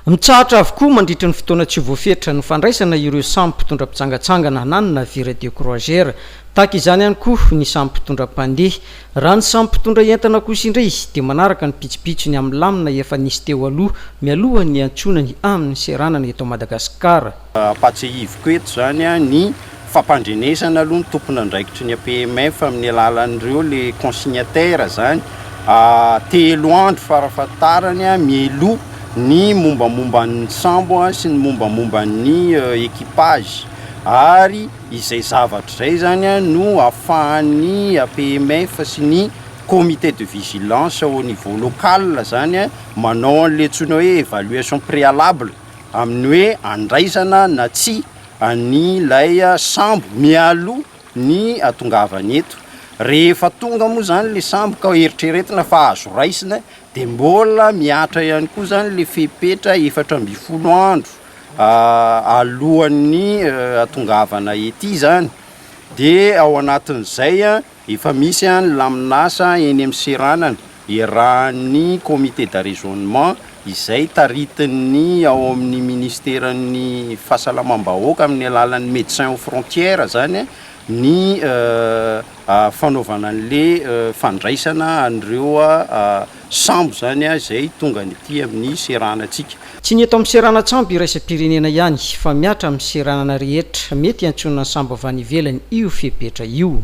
Mitsahatra avokoa mandritry ny fotoana tsy voafetra ny fandraisana ireo samy mpitondra mpitsangatsangana na ny navire de croisier. Tahaka izany ihany koa ny samy mpitondra mpandeha. Raha ny samy mpitondra entana kosa indray dia manaraka ny pitsopitsony amin'ny lamina efa nisy teo aloha mialohan'ny hiantsonany amin'ny seranana eto Madagasikara. Ampahatsiahiviko eto izany ny fampandrenesana aloha ny tompon'andraikitry ny APMF amin'ny alalan'ireo le consignataire zany telo andro farafahatarany mialoha ny mombamomban'ny sambo sy ny mombamomban'ny equipage ary izay zavatra izay zany no afahan'ny APMF sy ny comité de vigilance au niveau local zany manao an'ilay antsoina hoe évaluation préalable amin'ny hoe andraisana na tsia an'ilay sambo mialoha ny hatongavany eto. Rehefa tonga moa izany ilay sambo ka eritreretina fa azo raisina dia mbola mihatra ihany koa izany ilay fepetra efatra ambin'ny folo andro alohan'ny hatongavana ety izany, dia ao anatin'izay a. Efa misy ny lamin'asa eny amin'ny seranana iarahan'ny Comité d'arraisonnement izay taritin'ny ao amin'ny Ministeran'ny fahasalamam-bahoaka amin'ny alalan'ny Médecins aux frontières izany ny fanaovana an'ilay fandraisana an'ireo sambo izany izay tonga any aty amin'ny seranantsika. Tsy ny eto amin'ny seranan-tsambo iraisam-pirenena ihany fa mihatra amin'ny seranana rehetra mety hiantsonana sambo avy any ivelany io fepetra io.